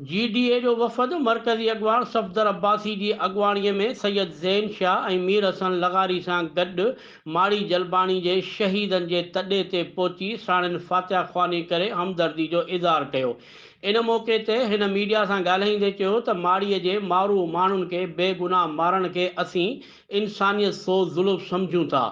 جي D A جو وفد مرڪزي اڳواڻ صفدر عباسي جي اڳواڻي ۾ سيد زين شاهه ۽ مير حسن لغاري سان گڏ ماڙي جلباڻي جي شهيدن جي تڏي تي پهچي ساڻن فاتحه خواني ڪري همدردي جو اظهار ڪيو ان موقعي تي هن ميڊيا سان ڳالهائيندي چيو ته ماڙي جي مارو ماڻهن کي بيگناهه مارڻ کي اسين انسانيت سوز ظلم سمجهون ٿا،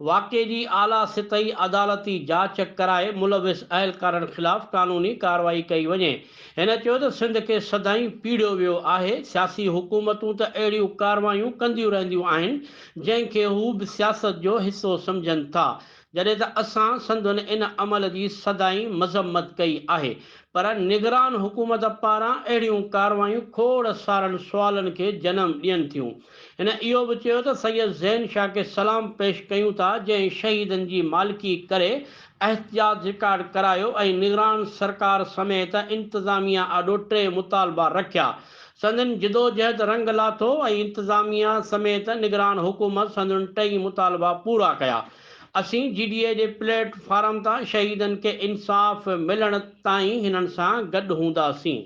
واقعي جي اعليٰ سطحي عدالتي جاچ ڪرائي ملوث اهلڪارن خلاف قانوني ڪارروائي ڪئي وڃي، هن چيو ته سنڌ کي سدائين پيڙيو ويو آهي، سياسي حڪومتون ته اهڙيون ڪارروايون ڪنديون رهنديون آهن جنهن کي هو به سياست جو حصو سمجهن ٿا، جڏهن ته اسان سندن ان عمل جي سدائين مذمت ڪئي آهي پر نگران حڪومت پاران اهڙيون ڪارروايون کوڙ سارن سوالن کي جنم ڏين ٿيون. هن اهو به چيو ته سيد زين شاهه کي سلام پيش ڪيون ٿا جنهن شهيدن جي مالڪي ڪري احتجاج رڪارڊ ڪرايو ۽ نگران سرڪار سميت انتظاميا آڏو ٽي مطالبا رکيا سندن جدوجهد رنگ لاٿو ۽ انتظاميا سميت نگران حڪومت سندن ٽئي مطالبا پورا ڪيا. اسين جي ڊي اي جي پليٽ فارم تان شهيدن کي انصاف ملڻ تائين هنن سان گڏ هونداسين.